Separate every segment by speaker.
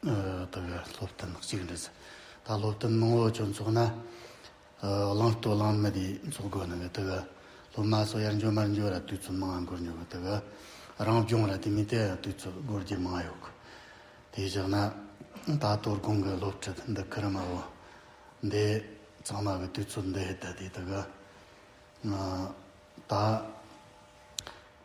Speaker 1: ད་ག་སློབ་སྟོན་ནག་ཅིག་འགྲིག་ཟེར། ད་སློབ་སྟོན་མང་བོ་བྱོན་ཚོགས་ན། གླང་སྟོད་གླང་མི་དེའི་ཚོགས་དགོས་ན་གི་ད་ག། སློབ་མ་སོགས་ཡར་འཇོག་མར་འཇོག་ར་དུས་ཚོད་མང་དགོས་ཉོ་གི་ད་ག། རང་སྦྱོང་ར་དེ་མི་དེ་ཡང་དུས་ཚོད་དགོས་རྒྱུ་མང་ཡོད་གི། དེ་བཞག་ན། ད་གཏོར་དགོང་གི་སློབ་ཁྲིད་འདི་ཁི་རི་མ་བོ། འདི། ཚང་མ་གི་དུས་ཚོད་འདི་ཡི་ད་དེ་ད་ག། ད།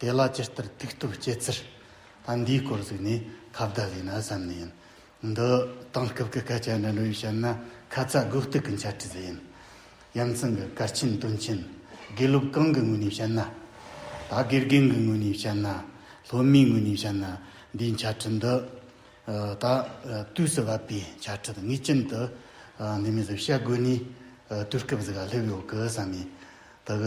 Speaker 1: དེ་ལ་ཇི་ལྟར་ཐུགས་སྟོབས་བསྐྱེད་ཚུལ་དང་འདིའི་སྐོར་གཟིགས་ནས་ཁ་བརྡ་བྱས་ན་བསམ་ནི་ཡིན། འདི་དེང་སྐབས་ཀྱི་སྐད་ཆ་འདྲ་འདྲ་ཡིས་བཤད་ན་ཁ་ཚ་དགོས་གཏུགས་ཀྱི་འཆད་ཁྲིད་ཡིན། རྒྱལ་མཚན་གྱི་སྐར་ཆེན་སྟོན་ཆེན་དགེ་སློབ་གང་གི་ངོས་ནས་བཤད་ན་ད་དགེ་རྒན་གྱི་ངོས་ནས་བཤད་ན་སློབ་མའི་ངོས་ནས་བཤད་ན་འདིའི་འཆད་ཁྲིད་འདི་ད་དུས་སུ་བབ་པའི་འཆད་ཁྲིད་ངེས་ཅན་དུ་འདི་མུས་སུ་བཤད་དགོས་ནས་དུས་སྐབས་གཟིགས་ལྷོད་པོའི་འོག་གི་བསམ་ཡིན། དག།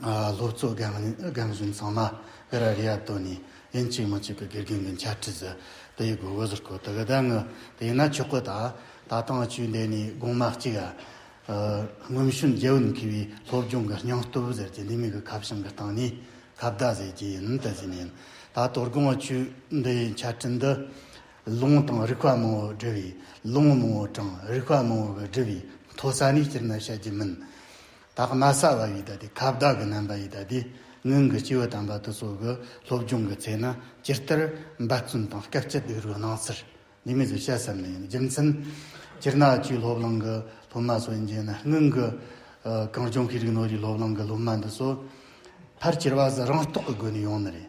Speaker 1: སློབ་གཙོ་རྒན་གཞོན་ཚང་མ་ཀི་ར་རི་ཡ་ཏོ་ནི་ཡིན་གཅིག་མ་གཅིག་གི་དགེ་རྒན་གི་འཆད་ཁྲིད་ཟེར་དེ་ཡི་དགོས་འོས་ཟེར་ཁོ་ཐག་ད་ངུ་དེ་ཡིན་ན་ཆོག་གི་ད་ད་ལྟ་ང་ཆུ་འདེད་ནས་དགོང་མ་གཅིག་ཨ་སྔོན་ཤུན་རྒྱལ་བོ་ནས་ཁེལ་བའི་སློབ་སྦྱོང་གི་སྙིང་སྟོབས་ཟེར་གྱི་འདི་མིག་གི་ཁ་བྱང་གི་སྟེང་ནས་ཁ་བརྡ་ཟེར་གྱི་ཡིན་དེ་བཞིན་ཡིན་ད་དོ་དགོང་ང་ཆུ་འདི་ཡི་འཆད་ཁྲིད་འདི་ལུང་དང་རིགས་པ་མང་བོ་འབྲི་བའི་ལུང་མང་བོ་དྲང་རིགས་པ་མང་བོ་གི་འབྲི་བའི་མཐོ་ས་ནས་སྤྱིར་ན་བཤད་རྒྱུ་མིན། དག་ན་སྲ་བ་ཡི་དྭ་ཏི་ཁ་བདག་གི་རྣམ་པ་ཡི་དྭ་ཏི་སྔོན་གྱི་སྤྱི་བོ་དམ་པ་དུ་སོགས་ཀྱི་སློབ་སྦྱོང་གི་ཚེ་ན་སྤྱིར་ལྟར་འབད་བརྩོན་དང་སྐད་ཅིག་གིས་རོལ་སྣང་ཟེར་ནུས་མེད་དུ་བཤད་བསམ་ནས་ཡིན་རྒྱུ་མཚན། སྤྱིར་ན་ཆུའི་སློབ་གླིང་གི་སློབ་མ་སོགས་ཡིན་རྒྱུ་ན་སྔོན་གྱི་གངས་ལྗོངས་ཤེས་རིག་ནོར་བུའི་སློབ་གླིང་གི་སློབ་མ་འདི་སོགས་ཕར་སྐྱེར་བ་ཟ་རང་རྟོགས་ཀྱི་སྒོ་ནས་ཡོང་ནི་རེད།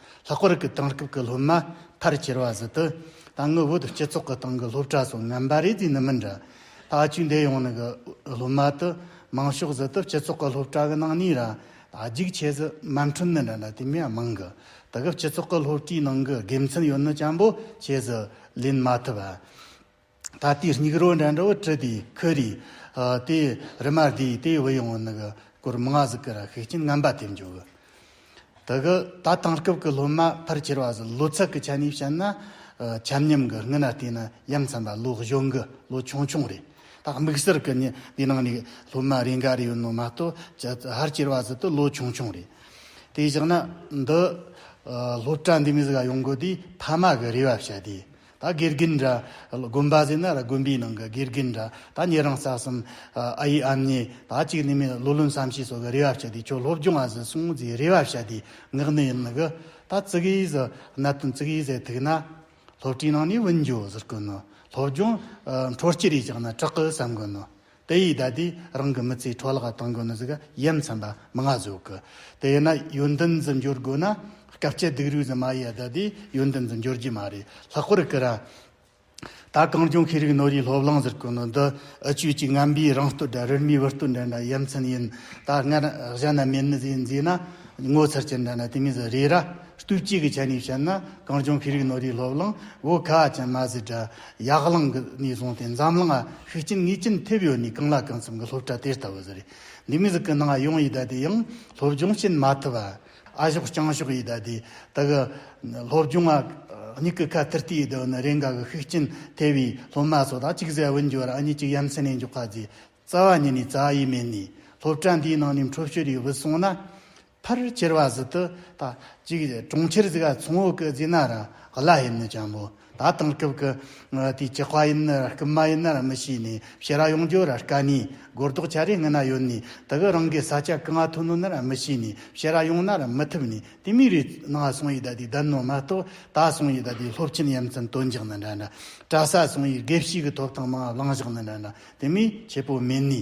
Speaker 1: ལྷག་པར་གྱི་དེང་སྐབས་ཀྱི་སློབ་མ་ཕར་ཁྱེར་བ་བཟི་དུ་ད་ངུ་བོད་སྤྱི་ཚོགས་ཀྱི་སྟེང་གི་སློབ་གྲྭ་སོགས་ངན་པ་རེད་དེ་ནི་མི་འདྲ། ད་བཅུ་འདས་ཡོང་ནི་གི་སློབ་མ་དུ་མང་ཤོག་བཟི་དུ་སྤྱི་ཚོགས་ཀྱི་སློབ་གྲྭ་གི་ནང་ནས་ར་རྒྱུག་ཆེ་ཟི་མ་འཁྲུན་ནི་འདྲ་འདྲ་དེ་མི་མང་གི་དེ་གི་སྤྱི་ཚོགས་ཀྱི་སློབ་གྲྭའི་ནང་གི་དགེ་མཚན་ཡོད་ནི་ཅམ་པོ་ཆེ་ཟི་ལེན་མ་ཐུབ་ཨ། ད་ལྟའི་སྙིགས་རོ་འདྲ་འདྲ་བོ་བྲིས་པའི་ཁུ་རེ། དེ་རི་མ་དེ་དེ་བུད་ཡོང་ནི་གི་སྐོར་མི་ང་ཟིག་གི་ར་ཤུགས་ཀྱིན་རྔམ་པ་དེ་འཇོག་གི། དེ་གི་ད་དེང་སྐབས་ཀྱི་སློབ་མ་ཕར་ཁྱེར་བ་ཟིག་ལོ་ཚད་ཀྱི་ཆ་ནས་བཤད་ན། ཆམ་ཉམས་གི་སྔི་ན་བལྟས་ན་ཡ་མཚན་པ་ལོ་གཞོན་གི་ལོ་ཆུང་ཆུང་རེད། ད་དམིགས་བསལ་གི་ནི་དེ་ནང་ནས་སློབ་མ་རེ་འགའ་རེ་ཡོད་ནོ་མ་གཏོགས་ཕར་ཁྱེར་བ་ཟིག་ཏུ་ལོ་ཆུང་ཆུང་རེད། དེ་བཞག་ན་འདི་སློབ་གྲྭ་འདི་མི་ཟིག་ག་ཡོང་དགོས་དུས་ཕ་མ་གི་རེ་བ་བྱ་དུས་ད་དགེ་རྒན་འདྲ། དགོན་པ་ཟེར་ན་ར་དགོན་པའི་ནང་གི་དགེ་རྒན་འདྲ། ད་ངེད་རང་རྩ་གསུམ། ཨ་ཡེ་ཨམ་ཉེ། ད་གཅིག་ནས་མིན་ལོ་ལོན་བསམ་ཤེས་སོགས་ཀྱི་རེ་བ་བྱ་དུས་ཁྱོད་སློབ་སྦྱོང་བ་ཟིག་སོང་ཟེར་རེ་བ་བྱ་དུས་ངག་ནས་ཡིན་གི། ད་ཙི་གེ་ཡིས་གནད་དོན་ཙི་གེ་ཡིས་ཟེར་ཐུག་ན། སློབ་གྲྭའི་ནང་ནས་བུད་འགྱོ་ཟེར་དཀོན་ནོ། སློབ་སྦྱོང། འཕྲོ་སྐྱིད་རེ་བཅག་ན་དྲག་གི་བསམ་དགོས་ནོ། དེ་ཡིས་ད་དུས་རང་གི་མི་ཚེའི་འཕྲོ་བརླག་གཏོང་དགོས་ནི་ཟིག་ཡིན་མཚམས་པ་མི་ང་བཟོ་གི། དེ་ཡིན་ན་ཡོན་ཏན་ཟིག་འབྱོར་དགོས་ན་སྐབས་སྐྱེ་སྡིག་རུས་ཟིག་མ་ཡིས་ད་དུས་ཡོན་ཏན་ཟིག་འབྱོར་རྒྱུ་མ་རེད་ལྷག་པར་ཀི་ར། ད་གངས་ལྗོངས་ཤེས་རིག་ནོར་ཡིས་སློབ་གླིང་ཟེར་དགོས་ནི་འདི་ཨི་ཆོས་ཀྱི་རྔམ་པའི་རང་སྟོད་འདྲ་རིར་མའི་བུ་སྟོད་འདྲ་འདྲ་ཡིན་མཚམས་ཡིན་ད་སྔར་གཞན་ན་མེད་ནི་ཟིག་མཛེས་ན་ངོ་མཚར་ཅན་འདྲ་འདྲ་དེ་མིན་ཟིག་རེད་ར། སྟོད་སྐྱེས་ཀི་ཆ་ནས་བཤད་ན་གངས་ལྗོངས་ཤེས་རིག་ནོར་ཡིས་སློབ་གླིང་བོད་ཁ་ཅན་མ་ཟིག་འདྲ་ཡར་ལངས་ཀྱི་ནས་བཟུང་སྟེ་འཛམ་གླིང་ལ་ཤུགས་རྐྱེན་ངེས་ཅན་ཐེབས་ཡོད་ནས་གང་ལ་གང་འཚམ་གྱི་སློབ་གྲྭ་དེ་ལྟ་བུ་ཟེར། འདི་མི་ཟིག་གི་ནང་ཡོང་ཡི་ད་དེ་ཡང་སློབ་སྦྱོང་བྱེད་མ་ཐུབ་ཨ། ཨ་ཞོག་རྐྱང་ཞོག་ཡི་ད་དེ་ད་གི་སློབ་སྦྱོང་ཨ། མྱིག་གི་ཁ་ཐིར་ཐིར་ཡི་ད་བུ་ནི་རེ་འགའ་གི་ཤུགས་རྐྱེན་ཐེབས་པའི་སློབ་མ་ཚོ་དང་གཅིག་ཟེར་བུན་འཇོར་ཨ་གཉིས་གཅིག་ཡ་མཚན་ནས་འཇོག་ག་རྫས་རྩ་བ་ཉིད་ནས་རྩ་ཡིས་མེད་ནས་སློབ་གྲྭ་འདིའི་ནང་ནས་འཕྲོ་བཤོལ་ཡོད་བུད་སོང་ན། ཕར་ཅེར་བ་ཟི་ཏུ་ད་ཅིག་གྲོང་ཁྱེར་ཟི་ག་ཚོང་བོ་ཀི་ཛི་ན་ར་ག་ལ་ཡིན་ནི་ཅང་མོ་ད་དང་སྐབས་ཀི་དུས་ཅི་ཁ་ཡིན་ནི་ར་ཀི་མ་ཡིན་ནི་ར་མི་ཤེས་ནི་ཕྱི་ར་ཡོང་རྒྱུ་ར་ཀ་ནི་གོ་རྡོག་ཆ་རེ་ངི་ན་ཡོད་ནི་ད་གི་རང་གི་ས་ཆ་ཀི་ང་ཐུ་ནོ་ནི་ར་མི་ཤེས་ནི་ཕྱི་ར་ཡོང་ན་ར་མི་ཐུབ་ནི་དེ་མི་རི་ནང་སོང་ཡི་ད་དུས་ད་ནོ་མ་གཏོགས་ད་སོང་ཡི་ད་དུས་སློབ་ཆེན་ཡམ་ཙམ་དོན་འཇག་ནི་འདྲ་འདྲ་གྲ་ས་སོང་ཡི་དགེ་བཤེས་གི་ཐོབ་ཐང་མང་བ་བླང་བཞག་ནི་འདྲ་འདྲ་དེ་མི་ཆེ་པོ་མིན་ནི།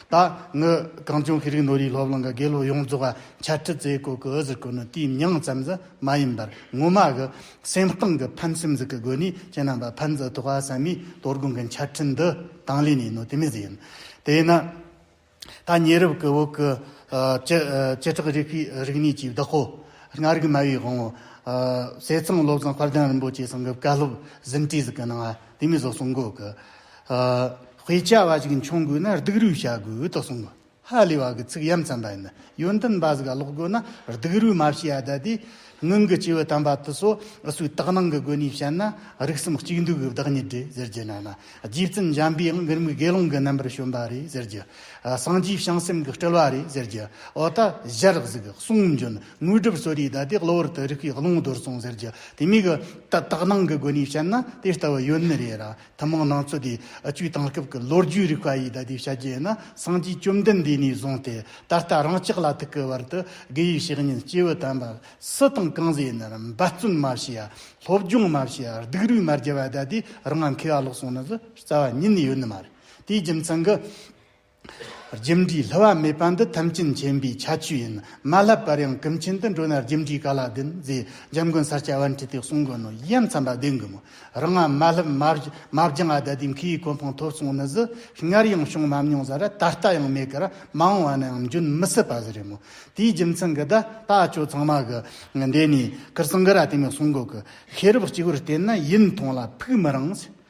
Speaker 1: ད་ངི་གངས་ལྗོངས་ཤེས་རིག་ནོར་ཡིག་སློབ་གླིང་གི་དགེ་སློབ་ཡོངས་རྫོགས་ཀ་འཆད་ཁྲིད་མཛད་སྒོ་གི་འུ་ཟི་ཀུ་ནི་དུས་མྱང་ཙམ་ཟི་མ་ཡིན་པར་ངོ་མ་གི་སེམས་གཏིང་གི་ཕན་སེམས་ཟི་ཀི་དགོས་ནས་ཁྱེད་རྣམས་པ་ཕན་ཟི་ཐུག་ཨ་ཟེར་མའི་དོར་དགོང་གི་འཆད་ཁྲིད་འདི་དང་ལས་ནས་ནོ་དེ་མི་ཟི་ཡིན། དེས་ན། ད་ཉེ་རབས་ཀི་བོད་ཀི་བྱེ་བྲག་རིགས་པའི་རིག་གནས་ཀྱི་བདག་པོ། ལྔ་རིག་སྨྲ་བའི་དབང་བོ། བསེ་ཚང་བློ་བཟང་དཔལ་ལྡན་རིན་པོ་ཆེ་སོང་གི་བཀའ་སློབ་ཟིན་བྲིས་ཟི་ཀི་གནང་ཨ་དེ་མི་ཟོ་གསུང་འགོ་གི་དབུས་བྱ་བ་ཞིག་འཁྱོངས་དགོས་ན་སྡུག་རུས་བྱ་དགོས་དོ་གསུངས། ཧ་ལས་བ་གི་ཚིག་ཡམ་ཙམ་པ་ཡིན། ཡོན་ཏན་འབའ་ཟིག་ཀློག་དགོས་ན་སྡུག་རུས་མ་བྱེད་ཡ་ད་དེ། ངང་གི་སྐྱེས་བུ་དམ་པ་དུ་སོ་སོའི་དག་སྣང་གི་སྒོ་ནས་བཤད་ན་རིགས་གསུམ་གཅིག་འདུས་ཀྱི་བདག་ཉིད་དེ་ཟེར་རྒྱུ་ན་ན་རྗེ་བཙུན་འཇམ་པའི་དབང་གི་རིམ་གྱི་དགེ་སློང་གི་རྣམ་པར་བྱོན་པ་རེད་ཟེར་རྒྱུ། སངས་རྒྱས་བྱང་སེམས་ཀྱི་སྤྲུལ་བ་རེད་ཟེར་རྒྱུ། འོ་ད་བཞི་རགས་ཟིག་གསུང་འབྱོན་དངོས་གྲུབ་གསོལ་རས་ད་དེ་གློ་བུར་དུ་རིགས་པའི་ཀློང་རྡོལ་སོང་ཟེར་རྒྱུ་དེ་མིན་གྱི་དག་སྣང་གི་སྒོ་ནས་བཤད་ན་དེ་ལྟ་བུ་ཡོད་ནི་རེད་ར། ཐུན་མོང་ནང་ཚོད་དེ་བཅུའི་དེང་སྐབས་ཀྱི་ལོ་རྒྱུས་རིག་པ་ཡིས་ད་ལྟའི་བྱ་རྒྱུ་ཡིན་ན་སངས་རྒྱས་བཅོམ་ལྡན་འདས་ནས་བཟུང་སྟེ་ད་ལྟ་རང་ཅག་ལ་ཐུག་གི་བར་དུ་དགེ་བའི་བཤེས་གཉེན་སྐྱེས་བུ་དམ་པ་སུ་དང་གང་ཟག་ཡིན་རུང་འབད་བརྩོན་མ་བྱས་ཡ་སློབ་སྦྱོང་མ་བྱས་ཡ་སྡིག་རུས་མ་རྒྱབ་ཡ་ད་ལྟའི་རང་ང་མཁས་པ་ལོག་སོང་ན་བཟོད་རྩ་བ་ཉིད་ནས་ཡོད་ནི་མ་རེད་དེའི་རྒྱུ་མཚན་གྱི། རྒྱུ་འབྲས་ལྷུ་བ་མེད་པ་འདི་ཐམས་ཅད་མཁྱེན་པའི་ཁྱད་ཆོས་ཡིན། མ་བསླབས་པར་ཡང་ཀུན་མཁྱེན་དུ་འགྲོ་ན་རྒྱུ་འབྲས་ག་ལ་ལྡན། རྗེ་འཇམ་མགོན་ས་སྐྱ་བན་ཁྲི་སྟེ་གསུང་དགོན་ནོ་ཡིའམ་ཚངས་པ་ལྡན་གི་མོ། རང་ངམ་མ་བསླབས་མ་སྦྱང་ཨ་དད་དེ་འཁིའི་གོ་འཕང་ཐོབ་སོང་ནི་ཟི། སྔར་ཡང་བྱུང་མ་མྱོང་ཟ་ར་ད་ལྟ་ཡང་མེད་ཀར་མ་འོང་བ་ན་ཡང་འབྱོན་མི་སྲིད་པ་ཟི་རེད་མོ། དེའི་རྒྱུ་མཚན་གི་ད་ལྟ་ཁྱོད་ཚང་མ་གི་འདས་ནས་ཀིར་སངྒ་ར་དེ་མི་གསུང་གོ་ཀི། ཤེས་རབ་གཅིག་བུར་བརྟེན་ན་ཡིན་མཐོང་ལ་ཕུག་མི་རངས།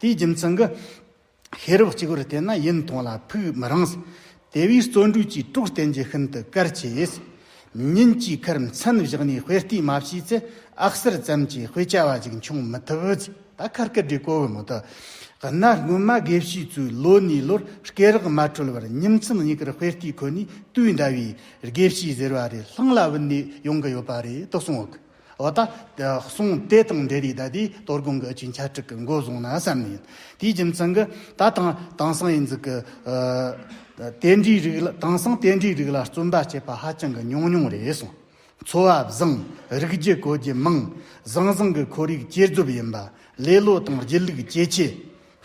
Speaker 1: དེའི་རྒྱུ་མཚན་གྱིས། ཤེས་རབ་གཅིག་པུར་བལྟས་ན་ཡུན་ཐུང་ལ་ཕུགས་མི་རིང། དེ་བས་བརྩོན་འགྲུས་ཀྱིས་དཀྲུགས་བསྟེན་རྒྱུ་ཤིན་ཏུ་གལ་ཆེ། ཉིན་གཅིག་ཁར་མཚན་བཞག་ནས་དཔེ་ལྟས་མ་བྱས་ཚེ་ཨག་གསར་ཙམ་གྱི་དཔེ་ཆ་བ་ཞིག་འབྱུང་མི་ཐུབ། ད་ཁར་སྐད་སྒྲའི་གོ་བོའི་མུ་ཏོ། གནའ་སྔོན་མ་དགེ་བཤེས་ཚོས་ལོ་ནས་ལོར་སྐད་རགས་མ་འཕྲོད་བར་ཉིན་མཚན་གཉིས་ཀར་དཔེ་ལྟས་ཁོ་ནའི་དུས་འདའ་བས་དགེ་བཤེས་ཟེར་བ་རེ་ལྷང་ལ་བུད་ནས་ཡོང་གི་ཡོད་པ་རེད་དོ་གསུངས། འོ་ད། གསུང་དེ་དང་འབྲེལ་ཡིད་ཟླ་དེས་གཏོར་སྒོང་གི་སྤྱི་འཆལ་དྲུག་གི་མགོ་བཟུང་ན་བསམ་ནི་ཡིན། དེའི་རྒྱུ་མཚན་གྱི། ད་དང། དེང་སང་ཡིན་ཟིག་གི། དེ་འདྲའི་རིགས་ལ་དེང་སང་དེ་འདྲའི་རིགས་ལ་བརྩོན་པ་བྱེད་པ་ཧ་ཅང་གི་ཉུང་ཉུང་རེད་གསུངས། འཚོ་བ་བཟང། རིགས་རྒྱུད་བཀོལ་རྒྱུ་མང། བཟང་བཟང་གི་ཁོར་ཡུག་སྐྱེ་རྫོབ་ཡིན་པ། ལེ་ལོ་དང་སྒྱིད་ལུག་ཇེ་ཆེ།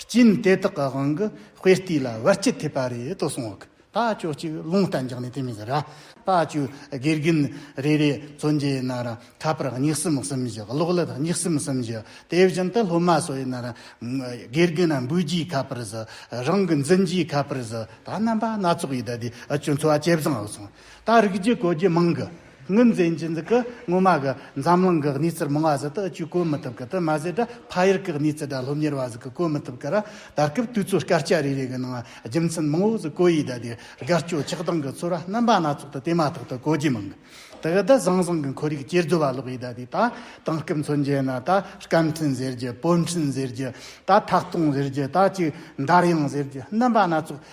Speaker 1: རྐྱེན་དེ་དག་གི་དབང་གིས་དཔེ་ལྟས་ལ་བར་སྐྱི་ཐེབས་པ་རེད་དོ་གསུངས། ད་ཅོ་གཅིག་རླུང་རྟ་འཇགས་ནས་དེ་མི་ཟེར་ར། ད་ཅོ་དགེ་རྒན་རེ་རེ་བཙོན་རྒྱལ་ཡིན་ན་ར་ཁ་པར་སྙིགས་སེམས་གསུམ་བཞི་གློག་ཀླད་སྙིགས་སེམས་གསུམ་བཞི་དེ་བཞིན་དུ་སློབ་མ་སོགས་ཡིན་ན་ར། དགེ་རྒན་རྣམས་འབུད་རྒྱུའི་ཁ་པར་བཟོ། རང་གི་འཛིན་རྒྱུའི་ཁ་པར་བཟོ། ད་རྣམ་པ་སྣ་ཚོགས་ཡོད་ད་དེ་ཨ་ཅོ་འཚོ་བ་ཇེ་བཟང་ཨོ་སོང། ད་རིག་རྒྱུ་གོ་རྒྱུ་མང་གི། དངོས་འཛིན་གྱི་འཛི་ཀི་ངོ་མ་གི་འཛམ་གླིང་གི་གནས་ཚུལ་མང་བ་ཟི་ཏི་ཅུས་བཀོད་མི་ཐུབ་ཀི་ཏི་མ་ཟི་ཏི་ཕ་ཡུལ་གི་གནས་ཚུལ་དགྲ་སློབ་གཉེར་བ་ཟི་ཀི་བཀོད་མི་ཐུབ་ཀི་ར་ད་སྐབས་དུས་ཚོད་སྐར་ཆ་རེ་རེ་གི་ནང་རྒྱུ་མཚན་མང་བོ་ཟི་ཀོ་ཡིས་ད་དེ་དགའ་སྐྱོ་ཆགས་སྡང་གི་ཚོར་བ་རྣམ་པ་སྣ་ཚོགས་དུ་དེ་མ་ཐག་ཏུ་གོ་རྒྱུ་མང་གི་ཏི་ད་བཟང་བཟང་གི་འཁོར་ཡུག་སྐྱེ་རྫོ་བ་ལོག་ཡིས་ད་དེ་ད་དང་སྐབས་མཚོན་བྱེད་ན་ད་སྐམ་འཕྲིན་ཟེར་རྒྱུ་སྤོས་འཕྲིན་ཟེར་རྒྱུ་ད་ཐག་སྟོང་ཟེར་རྒྱུ་ད་ཅིག་འདར་དབྱངས་ཟེར་རྒྱུ་རྣམ་པ་སྣ་ཚོགས་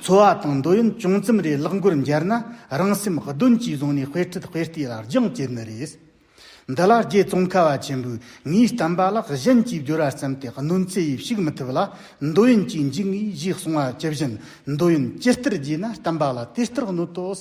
Speaker 1: འཚོ་བ་དང་འདོད་ཡོན་ཅུང་ཙམ་རེ་བརླག་འགོར་འགྱར་ན་རང་སེམས་གདོན་གྱིས་བཟུང་ནས་དཔེ་ཁྲིད་དཔེ་ལྟས་ལ་རྒྱང་བཀྱེད་ནི་རེད། འདི་ལ་རྗེ་ཙོང་ཁ་བ་ཆེན་པོས་ངའི་གཏམ་པ་ལག་གཞན་གྱིས་བསྒྱུར་བར་བརྩམས་ཏེ་གནོད་འཚེ་ཡིས་ཕྱུག་མི་ཐུབ་ལ་འདོད་ཡོན་གྱིས་འཇིག་ངེས་ཞེས་གསུངས་པ་ཇི་བཞིན་འདོད་ཡོན་ཇི་ལྟར་རྒྱས་ན་གཏམ་པ་ལ་དེ་ལྟར་གནོད་དོ།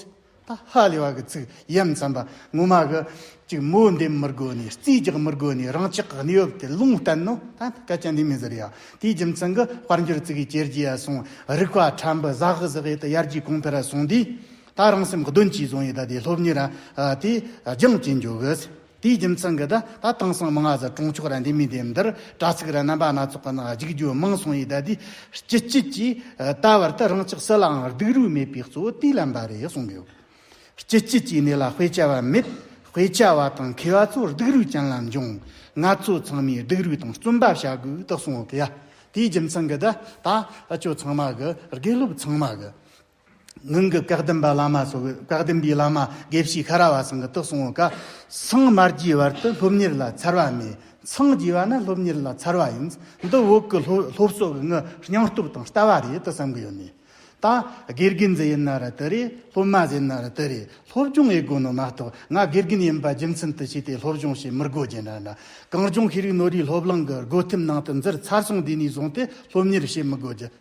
Speaker 1: ད་ཧ་ལས་བ་གི་ཚིག་ཡིན་བསམ་པ་ངོ་མ་གི། གཅིག་མོ་འདེམས་མི་དགོས་ནས་རྩིས་རྒྱག་མི་དགོས་ནས་རང་ཅག་གི་གནས་བབ་དེ་ལུང་བསྟན་ནོ། ད་སྐད་ཆ་འདི་མི་ཟེར་ཡ། དེའི་རྒྱུ་མཚན་གི་དཔལ་འབྱོར་རྩིས་ཀའི་གྱེར་གྱིས་ཡ་སོང་རིག་པ་ཕྲན་བུ་ཟག་ཟག་ཡེ་ད་ཡར་རྒྱས་གོང་འཕེལ་ར་སོང་དུས། ད་རང་སེམས་གདོན་གྱིས་བཟུང་ཡེ་ད་དེ་སློབ་གཉེར་ར་དེ་སྦྱང་བྱེད་འཇུག་གི། དེའི་རྒྱུ་མཚན་གྱིས་ད་ལྟ་དེང་སང་མི་ང་ཚོ་གྲོང་ཆོག་ར་འདི་མི་འདི་འདིར་དྲ་ཚིགས་ར་རྣམ་པ་སྣ་ཚོགས་ཀྱི་ནང་རྒྱུགས་རྒྱུ་མང་སོང་ཡིད་ད་དུས་སྤྱི་སྤྱི་གྱིས་ད་བར་དུ་རང་ཅག་སུ་ལའང་སྡུག་རུས་མེད་པའི་གཙོ་བོ་དུས་ལམ་པ་རེད་གསུངས་ཡོད། སྤྱི་སྤྱི་གྱི་གནས་ལ་དཔེ་ཆ་བ་མེད་དཔེ་ཆ་བ་དང་མཁས་བ་ཚོ་སྡུག་རུས་ཅན་ལ་འབྱུང། ང་ཚོ་ཚང་མས་སྡུག་རུས་དང་བརྩོན་པ་བྱ་དགོས་དག་གསུངས་ཡོད། དེའི་རྒྱུ་མཚན་གྱིས་ད་ད་ཁྱོད་ཚང་མ་གི་དགེ་སློབ་ཚང་མ་གི། ངང་གིས་བཀའ་བསྟན་པ་བླ་མ་སོགས་བཀའ་བསྟན་པའི་བླ་མ་དགེ་བཤེས་ཤ་ར་བ་སང་གི་ཏོག་སོང་བ་ཀ་སང་མར་གྱི་བར་དུ་སློབ་གཉེར་ལ་འཚར་བ་མེད་ཚང་གྱི་བ་ན་སློབ་གཉེར་ལ་འཚར་བ་ཡིན་འདི་འོག་གི་སློབ་གསོ་གི་ངའི་སྙིང་སྟོབས་དང་ལྟ་བ་རེད་དུ་བསམ་གི་ཡོད་ནས་ད་དགེ་རྒན་ཟེར་ཡིན་ན་རེད་དུ་རེད་སློབ་མ་ཟེར་ན་རེད་དུ་རེད་སློབ་སྦྱོང་ཡི་དགོས་ནོ་མ་གཏོགས་ང་དགེ་རྒན་ཡིན་པ་རྒྱུ་མཚན་དུ་བྱས་ཏེ་སློབ་སྦྱོང་བྱེད་མི་དགོས་རྒྱུ་འདྲ་འདྲ་གངས་ལྗོངས་ཤེས་རིག་ནོར་བུའི་སློབ་གླིང་གི་སྒོ་ཐེམ་ནང་དུ་འཛུལ་ཚར་སོང་དེ་ནས་བཟུང་སྟེ་སློབ་གཉེར་བྱེད་མི་དགོས་རྒྱུ།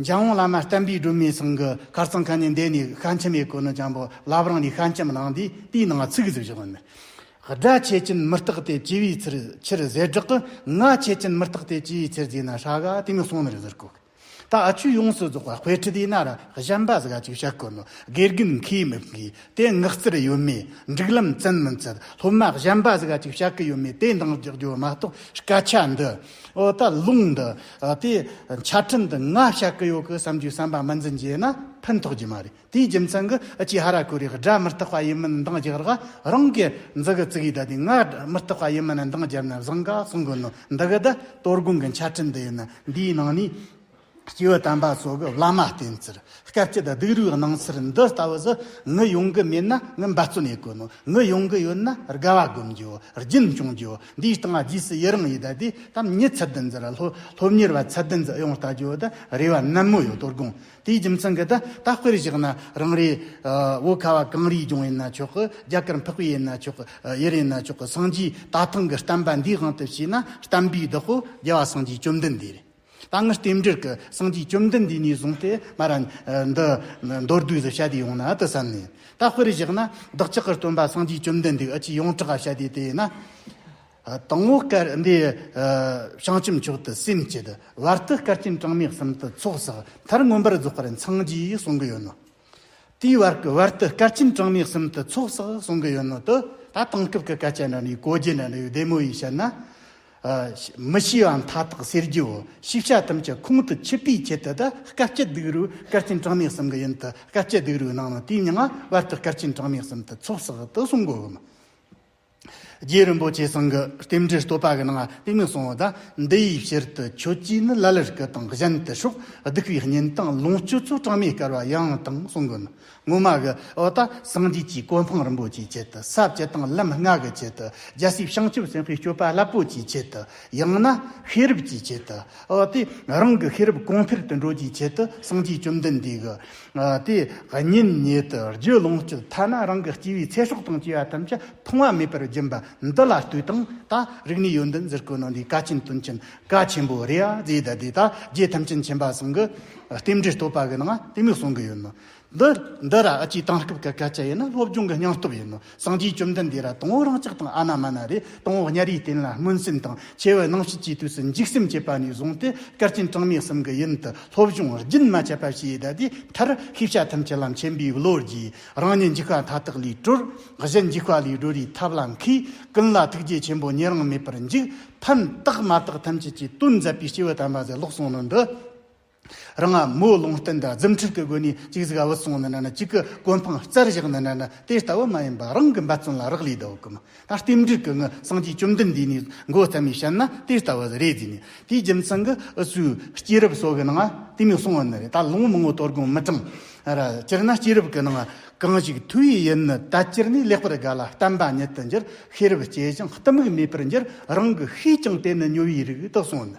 Speaker 1: འཇམ་དབྱངས་བླ་མ་བསྟན་པའི་སྒྲོན་མེའི་ཚང་གི་གར་རྩང་ཁང་ནས་འདས་ནས་ཤ་མཆི་མའི་གོས་ནི་འཇམ་པོ་བླ་བྲང་ནས་ཤ་མཆི་མ་ལངས་དུས་དེའི་ནང་ཚུགས་ཟེར་བཞག་ཡོད། སྦྲ་ཆད་ཅིན་མི་རྟག་སྟེ་ཅི་བའི་ཚུལ་ཕྱིར་ཟས་བསྒྲགས་ཀྱི་ང་ཆད་ཅིན་མི་རྟག་སྟེ་ཅི་བའི་ཚུལ་རྫས་ན་ཧྲ་ག་དེ་མི་སོང་ནི་རི་ཟུར་གོག་ད་ཆུ་ཡོངས་སུ་རྫོགས་པ་དཔེ་ཁྲི་དེ་ན་ར་གཞན་པ་ཟ་ག་ཅིག་བྱ་གོ་ནི་དགེ་རྒན་མཁས་མི་མཁས་དེ་ངག་རྩར་ཡོད་མེད་འགྲིག་ལམ་བཙན་མི་འཚལ་སློབ་མ་གཞན་པ་ཟ་ག་ཅིག་བྱ་གི་ཡོད་མེད་དེ་འདང་རྒྱག་རྒྱུ་མ་གཏོགས་སྐད་ཆ་འདི་ཨོ་ད་ལུང་འདི་དེ་ཆ་ཕྲིན་དུ་ང་བྱ་གི་ཡོད་གི་བསམ་རྒྱུའི་བསམ་པ་མི་འཛིན་རྗེས་ན་ཕན་ཐོགས་རྒྱུ་མ་རེད་དེའི་རྒྱུ་མཚན་གི་ཅི་ཧ་ར་གུ་རེ་སྒྲ་མི་རྟག་པ་ཡིན་མིན་འདང་རྒྱག་ར་རང་གི་འཛི་གི་ཙིག་ཡིད་ད་དེ་ང་མི་རྟག་པ་ཡིན་མིན་འདང་རྒྱབ་ན་བཟང་ག་གསུང་གི་ནོ་འདི་གི་ད་གཏོར་སྒོང་གི་ཆ་ཕྲིན་འདི་ཡིན་ན་འདིའི་ནང་ནས། སྐྱེ་བོ་དམ་པ་གཙོ་སྐུ་བླ་མ་བསྟེན་ཟེར་སྐབས་སྐྱིད་སྡུག་རུའི་སྣང་ཚུལ་འདི་ལྟ་བུ་སུ་ངུ་ཡོང་གི་མེད་ན་ངུ་འབའ་བརྩོན་ཡས་དཀོན་ནོ་ངུ་ཡོང་གི་ཡོད་ན་དགའ་བ་སྒོམ་རྒྱུའོ་རྒྱུན་སྐྱོང་རྒྱུའོ་འདིའི་སྟེང་རྗེས་སུ་ཡི་རང་ཡི་དྭགས་དེ་དམ་ཉིད་ཚད་ལྡན་འདི་ར་སློབ་གཉེར་བ་ཚད་ལྡན་འདི་ཡང་བལྟ་རྒྱུའོ་དེ་རེ་བ་ནན་མོ་ཡོད་དོ་དགོངས་དེའི་རྒྱུ་མཚན་གྱིས་དེ་ལྟ་སྤེལ་བཞག་ན་རང་རེ་བོད་ཁ་བ་གངས་རིའི་ལྗོངས་ཡིན་ན་ཆོག་གི་རྒྱ་གར་འཕགས་པའི་ཡིན་ན་ཆོག་གི་ཡུལ་ཡིན་ན་ཆོག་གི་སངས་རྒྱས་རྟ་ཐང་གི་བསྟན་པ་འདིའི་དབང་དུ་བྱས་ན་བསྟན་པའི་བདག་པོ་རྒྱལ་བ་སངས་རྒྱས་བཅོམ་ལྡན་འདས་རེད། ད་སྔར་རྟེན་འབྲེལ་གྱི་སངས་རྒྱས་བཅོམ་ལྡན་འདས་ཉིད་བཟུང་སྟེ་སྨྲ་ར། འདི་མདོར་བསྡུས་སུ་བྱ་དེ་ཡོང་ན་ཨ་ཏི་བསམས་ནས། ད་དཔེར་བཞག་ན་བདག་ཅག་གི་སྟོན་པ་སངས་རྒྱས་བཅོམ་ལྡན་འདས་ཨི་ཅི་ཡོངས་གྲགས་བྱ་དེ་དེས་ན། དང་བོ་སྐལ་ལྡན་བྱང་ཆུབ་མཆོག་ཏུ་སེམས་བསྐྱེད། བར་དུ་སྐལ་ཆེན་གྲངས་མེད་གསུམ་དུ་ཚོགས་བསགས་མཐར་མངོན་པར་རྫོགས་པར་འཚང་རྒྱའི་གསུང་གི་ཡོད་ནོ། དེའི་བར་གྱི་བར་དུ་སྐར་ཆེན་གྲངས་མེད་གསུམ་དུ་ཚོགས་བསགས་གསུང་གི་ཡོད་ནོ་ཏོ། ད་དེང་སྐབས་ཀྱི་སྐད་ཆ་འདྲ་འདྲའི་གོ་རྒྱུ་འདྲ་འདྲའི་བདེ་མོ་ཡིས་བཤད་ན། མི་ཤེས་པ་མཐའ་དག་གསེར་གྱིའོ་ཞིག་བྱ་ཐུབ་ཀྱི་ཁུངས་དུ་ཆུད་པའི་ཆེད་དུ་ད་སྐར་སྐྱིད་སྡུག་རུས་སྐར་ཆེན་གྲངས་མེད་གསུམ་གྱི་ཡུན་དུ་སྐར་སྐྱིད་སྡུག་རུས་གནང་ནོ་དེའི་མྱང་བར་དུ་སྐར་ཆེན་གྲངས་མེད་གསུམ་དུ་ཚོགས་བསགས་དུ་གསུང་གི་འོས་མ། རྗེ་རིན་པོ་ཆེ་ཚང་གི་རྟེན་འབྲེལ་བསྟོད་པ་གི་ནང་གཏིང་ནས་སོང་བ་ད་འདི་ཡི་ཕྱིར་དུ་ཁྱོད་ཀྱིས་ནི་ལ་ལར་སྐུ་དང་གཞན་དུ་ཕྱོགས་བསྡུ་བའི་ཉིན་དང་ལོངས་སྤྱོད་ཚོགས་གྲངས་མེད་དཀར་བ་ཡང་དང་གསུང་གི་ནི་སྔོན་མ་གི་འོ་ད་སངས་རྒྱས་ཀྱི་གོ་འཕང་རིན་པོ་ཆེའི་ཆེད་དུ་ཟབ་བཅས་དང་ལམ་ལྔ་གི་ཆེད་དུ་རྒྱལ་སྲས་བྱང་ཆུབ་སེམས་དཔའི་སྤྱོད་པ་རླབས་པོ་ཆེའི་ཆེད་དུ་ཡང་ན་ཤེས་རབ་ཀྱི་ཆེད་དུ་འོ་དེ་རང་གི་ཤེས་རབ་གོང་འཕེལ་དུ་འགྲོ་རྒྱུའི་ཆེད་དུ་སངས་རྒྱས་བཅོམ་ལྡན་འདས་ཀྱི་དེ་ཉིད་ཉིད་དུ་རྒྱུད་ལོངས་སྤྱོད་ཐ་ན་རང་གི་སྐྱེ་བའི་ཚེ་སྲོག་དང་བཅས་པ་ཐམས་ཅད་ཐོང་བ་མེད་པར་སྦྱིན་པ་འདི་ལ་ལྟོས་དང་ད་རིག་ནས་ཡོན་ཏན་ཟེར་གོ་ནོ་འདི་ཀ་ཆེན་དོན་ཆེན་ཀ་ཆེན་པོ་རེད་ཨ་ཛེ་ད་དེ་ད་རྒྱས་ཐམས་ཅད་མཁྱེན་པ་ཟུང་གི་རྟེན་འབྲེལ་བསྟོད་པ་གི་ནང་ལྟེ་མོ་གསུང་གི་ཡོད་ནོ། འདི་འདི་ར་ཨ་ཅེ་དང་སྐབས་ཀ་ཀ་ཅ་ཡིན་ན་སློབ་སྦྱོང་གི་སྙིང་སྟོབས་ཡིན་ནོ། སངས་རྒྱས་བཅོམ་ལྡན་འདས་ལ་སྟོང་བ་རང་ཅག་དང་ཨ་ན་མ་ན་རེ་སྟོང་བ་ཉྭ་རེའི་རྟེན་ལ་སྨོན་སེམས་དང་ཆེ་བའི་སྣང་བྱེད་ཀྱི་དུས་སུ་འཇིགས་སེམས་བསྐྱེད་པ་ནས་བཟུང་སྟེ་སྐལ་ལྡན་གྲངས་མེད་གསུམ་གྱི་ཡུན་དུ་སློབ་སྦྱོང་རྒྱུན་མ་ཆད་པ་བྱས་བསྡད་དེའི་མཐར་ཤེས་བྱ་ཐམས་ཅད་ལམ་ཆེན་པོའི་བློ་རྒྱས་རང་ཉིད་འཇིགས་པ་མཐའ་དག་ལས་གྲོལ་གཞན་འཇིགས་པ་ལས་སྒྲོལ་བའི་ཐབས་ལ་མཁས་ཀུན་ལ་ཐུགས་རྗེ་ཆེན་པོ་ཉེ་རིང་མེད་པར་འཇིགས་ཕན་བཏགས་མ་བཏགས་ཐམས་ཅད་ཀྱི་དོན་མཛད་པའི་སྐྱེས་བུ་དམ་པ་ཟེར་ལོག་གསུང་ནོར་འདི། རང་ང་མོའི་ལུང་བསྟན་དང་རྫུན་ཁྲིགས་ཀྱི་སྒོ་ནས་གཅིག་གཟིགས་བུ་སོང་ནི་ན་གཅིག་གི་གོ་འཕང་རྩར་བཞག་ནི་ན་དེ་ལྟ་བུ་མ་ཡིན་པ་རང་གི་འབད་བརྩོན་ལ་རག་ལས་ལྡོག་གམ། ད་ལྟའི་འགྲིག་གི་ངའི་སངས་རྒྱས་བཅོམ་ལྡན་འདས་ནས་མགོ་བརྩམས་པའི་ཞལ་ན་དེ་ལྟ་བུ་རེ་བཟོས་ནས་དེའི་རྒྱུ་མཚན་གྱི་འུ་ཚོའི་སྐྱེས་རབས་སོགས་ཀྱི་ནང་དེ་མི་གསུང་བ་ནི་རེད་ད་ལོ་མང་བོ་དོར་དགོངས་མི་དྲང། སྤྱིར་ན་སྐྱེས་རབས་ཀྱི་ནང་གང་ཞིག་ཐུགས་ཡིད་ཡིན་ནི་ད་སྤྱིར་ནས་ལེགས་པར་དགའ་ལ་བསྟན་པ་ཉིད་དུ་འགྱུར་ཤེས་རབ་སྐྱེས་ཀྱང་གཏི་མུག་མེད་པར་འགྱུར་རང་གི་ཤེས་ཀྱང་དེ་ནི་ཉོ་བའི་རིགས་དག་སོང་ནི་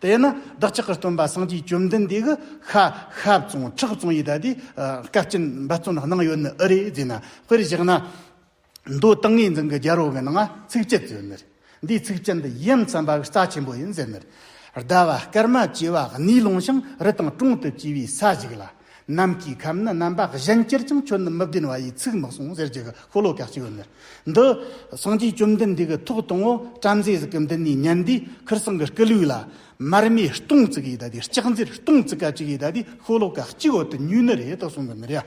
Speaker 1: དེས་ན་བདག་ཅག་གི་སྟོན་པ་སངས་རྒྱས་བཅོམ་ལྡན་འདས་ཀྱི་ཤ་ཤ་བཙོང་ཁྲག་བཙོང་ཡི་དྭགས་དེ་སྐད་ཅིག་འབད་བརྩོན་གནང་ཡོད་ནི་ཨི་རེད་ཟེར་ན་དཔེར་བཞག་ན། མདོ་ཏིང་ངེ་འཛིན་གྱི་རྒྱལ་པོ་གི་ནང་ཚིགས་བཅད་ཟེར་ནི་རེད། འདིའི་ཚིགས་བཅད་འདི་ཡུམ་བསམ་པ་གྱི་རྩ་ཆེན་པོ་ཡིན་ཟེར་ནི་རེད། ཟླ་བ་སྐར་མ་བཅས་པ་གནས་ལོང་ཞིང་རི་དང་གྲོང་དུ་སྐྱེས་པའི་ས་ཞིག་ལ། ནམ་གྱི་ཁམས་ནི་རྣམ་པ་གཞན་གྱུར་ཀྱང་ཁྱོད་ནི་མི་བདེན་བ་ཡིས་ཚིག་མི་གསུང་ཟེར་གྱི་གི་ཧོ་ལོ་ཀ་གཅིག་བོ་ནི། འདི། སངས་རྒྱས་བཅོམ་ལྡན་འདས་ཀྱི་ཐུགས་དང་བོ་བྲམ་ཟེ་གཟུགས་ཀྱི་འདི་ནས་ཉན་དུས་ཁུར་སང་གི་སྐུ་ལུས་ལ། མར་མེའི་སྟོང་ཚིག་གིས་ད་དེ་ལྕགས་མཛེར་སྟོང་ཚིག་ཀ་གཅིག་གིས་ད་དེ་ཧོ་ལོ་ཀ་གཅིག་བོ་དུ་ཉུལ་ནི་རེད་དོ་གསུང་གི་ནི་རེད།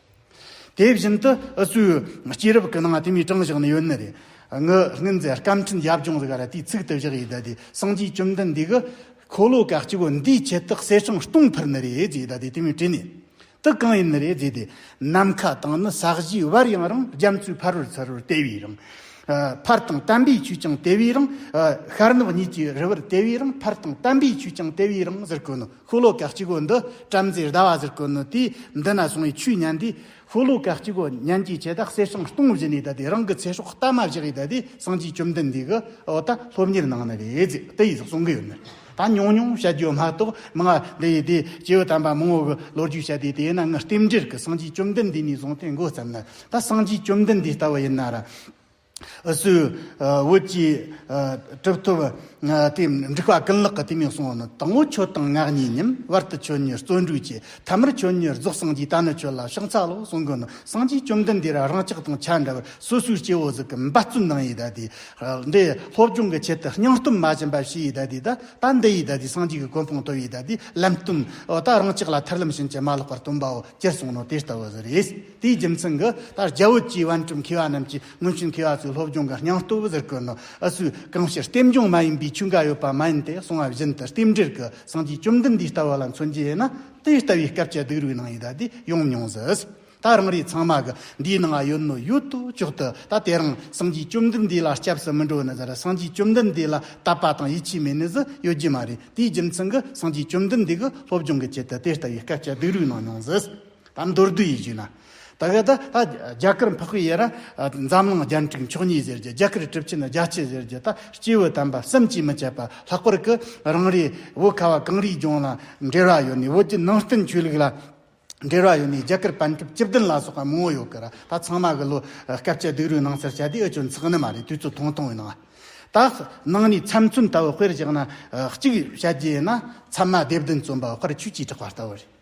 Speaker 1: དེ་བཞིན་དུ་ཨུ་ཚུའུ་སྐྱེས་རབས་ཀྱི་ནང་དེ་མིའི་གྲངས་བཞག་ནི་ཡོད་ནི་རེད། ངུ་སྔན་རྫས་སྐམ་ཕྲན་ཡབ་ལྗོངས་རིག་ར་དུས་ཚིགས་དུ་བཞག་ཡོད་ད་དེ་སངས་རྒྱས་བཅོམ་ལྡན་འདས་ཀྱི་འཁོར་ལོ་ག་སྐྱེ་བོ་འདིའི་ཁྱད་རྟགས་གསེར་ཆང་སྟོང་འཕར་ནི་རེད་ཅེས་ད་དེ་དེ་མིའི་དྲི་ནི་དུ་གང་ཡིན་ནི་རེད་ཅེས་དེ་ནམ་མཁའ་དང་ནི་ས་གཞི་བར་ཡང་རང་རྒྱ་མཚོའི་ཕར་རོལ་ཚུར་རོལ་དེ་བས་རང། ཕར་དང་བསྟན་པའི་ཆོས་ཀྱང་དེ་བས་རང། ཤར་ནུབ་གཉིས་ཀྱི་རི་བར་དེ་བས་རང་ཕར་དང་བསྟན་པའི་ཆོས་ཀྱང་དེ་བས་རང་ཟེར་དགོས་ནི། ཤོ་ལོ་ཀ་གཅིག་གོ་འདི་བྲམ་ཟེ་ཟླ་བ་ཟེར་གོ་ནི་དེས་འདི་ན་སོང་བའི་ཆུའི་གཉན་དེ་ཤོ་ལོ་ཀ་གཅིག་གོ་གཉན་གྱིས་བྱས་ད་གསེར་སྲང་སྟོང་བཞི་ནས་ད་དེ་རང་གི་ཚེ་སྲོག་གཏའ་མ་བཞག་ཡས་ད་དེ་སངས་རྒྱས་བཅོམ་ལྡན་འདས་ཀྱི་འོ་ད་སློབ་གཉེར་གནང་ནི་རེད་ཟེར་དེ་ཡིས་གསུང་གི་ཡོད་ནི་ད་ཉུང་ཉུང་བཤད་རྒྱུ་མ་གཏོགས་མི་ང་འདི་ཡིས་དེ་སྐྱེ་བོ་དམ་པ་མང་བོ་གི་ལོ་རྒྱུས་བཤད་དེ་དེས་ན་ངའི་རྟེན་འབྲེལ་གྱི་སངས་རྒྱས་བཅོམ་ལྡན་འདས་ནས་བཟུང་སྟེ་མགོ་བརྩམས་ན་ད་སངས་རྒྱས་བཅོམ་ལྡན་འདས་ལྟ་བུ་ཡིན་ན་ར། སུའི་བོད་ཀྱི་གྲུབ་ཐོབ་དེ་འགྲིག་པ་ཀུན་ལག་གི་དུས་མིན་གསུང་བ་ནི་དང་བོ་ཁྱོད་དང་ངག་གཉིས་ཉིན་བར་དུ་ཁྱོད་ཉིད་བརྩོན་འགྲུས་བྱས་ཐ་མར་ཁྱོད་ཉིད་རྫོགས་སངས་རྒྱས་ད་ནི་ཁྱོད་ལ་ཕྱག་འཚལ་ལོ་གསུང་དགོས་ན་སངས་རྒྱས་བཅོམ་ལྡན་འདས་རང་ཅག་དང་ཆ་འདྲ་བར་སོ་སོའི་སྐྱེ་བོ་གཟུགས་ཀྱི་འབད་བརྩོན་གནང་ཡིད་ད་དེ་འདྲའི་སློབ་སྦྱོང་གི་ཆེད་དུ་སྙིང་སྟོབས་མ་ཞན་པ་བྱས་ཡིད་ད་དེ་ད་ལྟ་འདི་ཡིད་ད་དེ་སངས་རྒྱས་ཀྱི་གོ་འཕང་ཐོབ་ཡིད་ད་དེ་ལམ་སྟོན་འོ་ད་རང་ཅག་ལ་ཐར་ལམ་ཕྱིན་ཅི་མ་ལོག་པར་སྟོན་པའོ་སྤྱིར་གསུང་ནོ་དེ་ལྟ་བུ་ཟེར། དེའི་རྒྱུ་མཚན་གྱི་ལྟར་རྒྱ་བོད་ཀྱི་བན་སྤྲུལ་མཁས་པ་རྣམས་ཀྱིས་སྔོན་བྱོན་མཁས་པ་ཚོའི་སློབ་སྦྱོང་གི་སྙིང་སྟོབས་བོད་དུ་བཀོལ་ནོ་ཨེ་ཚོས་གང་ཕྱིར་ལྟེམ་སྦྱོང་མ་ཡིན་པའི་ཆོས་འགའ་ཡོད་པ་མ་ཡིན་ཏེ་གསུང་བ་བཞིན་དུ་ལྟེམ་འབྲེལ་གྱི་སངས་རྒྱས་བཅོམ་ལྡན་འདས་ལྟ་བུ་ལ་མཚོན་གྱི་ཡིན་ན་དེ་ལྟ་བུའི་སྐབས་ཀྱི་སྡིགས་རུས་ནང་ཡོད་ད་དེ་ཡོང་མྱོང་ཟིག་ད་རང་རེ་ཚང་མ་གི་འདིའི་ནང་ང་ཡོད་ནོ་ཡོད་དུ་ཅོག་དུ་ད་དེ་རང་སངས་རྒྱས་བཅོམ་ལྡན་འདས་ལ་སྐྱབས་སུ་མི་འགྲོ་ནི་ཟེར་སངས་རྒྱས་བཅོམ་ལྡན་འདས་ལ་དད་པ་དང་ཡིད་ཆེས་མེད་ནི་ཟིག་ཡོད་རྒྱུ་མ་རེད་དེའི་རྒྱུ་མཚན་གྱི་སངས་རྒྱས་བཅོམ་ལྡན་འདས་གྱི་སློབ་སྦྱོང་གི་ཆེད་དུ་དེ་ལྟ་བུའི་སྐབས་ཀྱི་སྡིགས་རུས་གནང་མྱོང་ཟིག། ད་མདོར་བསྡུས་ཡིག་བཅུ་ན། ད་ག་ད་ད། རྒྱ་གར་འཕགས་པའི་ཡེ་ར། འཛམ་གླིང་རྒྱལ་འཕྲུག་མཆོག་ཉིད་ཟེར་གྱི་རྒྱ་གར་གྲུབ་ཆེན་རྒྱ་སྐྱེད་ཟེར་གྱི་ད་སྐྱེས་བུ་དམ་པ་གསུམ་གྱིས་མི་ཆད་པར་ལྷག་པར་གྱི་རང་རེའི་བོད་ཁ་བ་གངས་རིའི་ལྗོངས་ལ་འབྲེལ་བ་ཡོད་ནས་བོད་ཀྱི་ནང་བསྟན་ཆོས་ལུགས་ལ་འབྲེལ་བ་ཡོད་ནས་རྒྱ་གར་པན་ཀྲུབ་སྐྱིབས་ལྡན་ལ་སོགས་པ་མང་བོ་ཡོད་གི་ར་ད་ཚང་མ་གི་ལོ་སྐབས་ཆ་སྡིག་རུས་ནང་སར་བྱ་དེ་ཨི་ཆོན་ཚགས་ནི་མ་རེད་དུས་ཚོད་ཐུང་ཐུང་ཡིན་ནོ། ད་ནང་ནས་ཚམ་ཚུན་ལྟ་བུ་དཔེར་བཞག་ན་གཅིག་བྱ་རྒྱུ་ཡིན་ན་ཚམ་མ་སྡེབ་བདུན་བརྩོན་པ་བར་ཆུ་གཅིག་གྲགས་པ་ལྟ་བུ་རེད།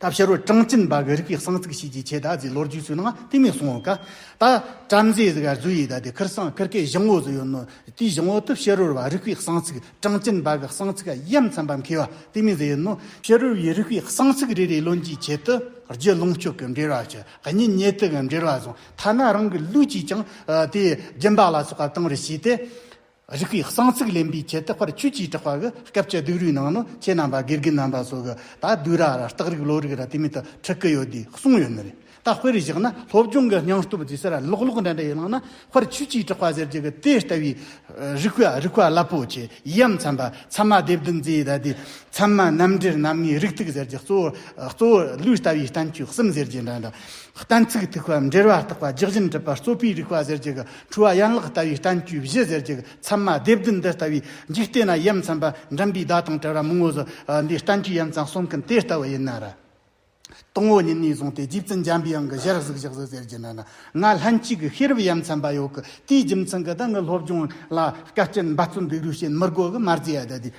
Speaker 1: ད་ཕྱི་རོལ་ཀྲང་ཅིན་པཱ་གི་རིགས་པའི་གསང་ཚིག་ཤེས་ཀྱི་ཆེད་ད་གཟིགས་ལོ་རྒྱུས་སུ་ནང་བསྟན་མེད་གསུང་འོག་ད་བྲམ་ཟེ་གཟིགས་གཟུགས་ཡིད་ད་དེ་ཁིར་སང་ཁིར་ཀའི་བཞང་བོ་སུ་ཡོད་ནོ་དེའི་བཞང་བོ་དུ་ཕྱི་རོལ་བ་རིགས་པའི་གསང་ཚིག་ཀྲང་ཅིན་པཱ་གི་གསང་ཚིག་གཡམ་མཚན་པ་མཁས་པ་དེ་མི་ཟེར་ནོ། ཕྱི་རོལ་བའི་རིགས་པའི་གསང་ཚིག་རེ་རེའི་བློན་གྱི་ཆེད་དུ་རྒྱུད་ལུང་ཤོག་གི་འགྲེལ་བ་ཞུ་གཉིས་ཉེ་དུ་གི་འགྲེལ་བ་བཟུང་ཐ་ན་རང་གི་ལུས་ཀྱིས་ཀྱང་དེའི་སྦྱིན་པ་ལ་སོགས་པ་གཏང་རེ་བྱས་ཏེ། རིགས་པའི་གསང་ཚིག་ལེན་པའི་ཆེད་དུ་དཔར་ཆོས་ཀྱིས་གྲགས་པ་གི་སྐད་བཅད་སྡུག་རུས་ནང་ནི་ཁྱེད་རྣམས་པ་དགེ་རྒན་རྣམས་པ་སོགས་ཀྱི་ད་སྡུག་ར་ར་སྟག་རིག་ལོ་རིག་ར་དེ་མེད་དུ་ཁྲིད་ཀི་ཡོད་དེ་གསུངས་ཡོད་ནི་རེད་ད་དཔེར་བཞག་ན་སློབ་སྦྱོང་གི་སྙིང་སྟོབས་ཇི་སར་ལོག་ལོག་འདྲ་འདྲ་ཡོད་ལགས་ན་དཔར་ཆོས་ཀྱིས་གྲགས་པ་ཟེར་རྒྱུ་གི་དེ་ལྟ་བུའི་རིགས་པ་རིགས་པ་རླབས་པོ་ཆེ་ཡིའམ་མཚན་པ་ཚད་མ་སྡེབ་བདུན་རྩིས་ཟླ་དེ་མཚན་མ་རྣམ་འགྲེལ་རྣམ་ངེས་རིགས་ཐིག་ཟེར་རྒྱུ་གཙོ་བོ་གཙོ་བོ་ལུས་ལྟ་བུའི་བསྟན་བཅོས་གསུམ་ཟེར་རྒྱུ་འདྲ་འདྲ་གཏན་ཚིགས་ཐིག་པ་འགྲེལ་བ་རྟག་པ་རྒྱག་བཞིན་གྲུབ་པ་རྩོད་པའི་རིགས་པ་ཟེར་རྒྱུ་གི་འཁྲུལ་བ་ཡན་ལག་ལྟ་བུའི་བསྟན་བཅོས་བཞི་ཟེར་གྱི་ཚད་མ་སྡེ་བདུན་འདི་ལྟ་བུའི་འཇིག་རྟེན་ན་ཡུམ་ཚན་པ་འགྲིམ་པའི་བརྡ་དང་བྲལ་བ་མི་ངོ་བཟོ་འདིའི་བསྟན་བཅོས་ཡན་ཚང་གསུམ་གིན་དེ་ལྟ་བུ་ཡིན་ན་ར། སྟོང་བོ་ཉིད་ནས་བཟུང་སྟེ་རྗེ་བཙུན་འཇམ་པའི་དབྱངས་ཀྱི་གཞིར་གཟུགས་བཞག་བཟོ་ཟེར་གྱི་ན་ན་ང་ལྷན་གཅིག་གི་ཤེས་རབ་ཡན་ཚན་པ་ཡོད་གི་དེའི་རྒྱུ་མཚན་གི་ད་ནི་སློབ་སྦྱོང་ལ་སྐད་ཅིག་འབད་བརྩོན་འགྲུས་རུས་ཞེན་མི་དགོས་གི་མ་རྩེ་ཡ་ད་དུས་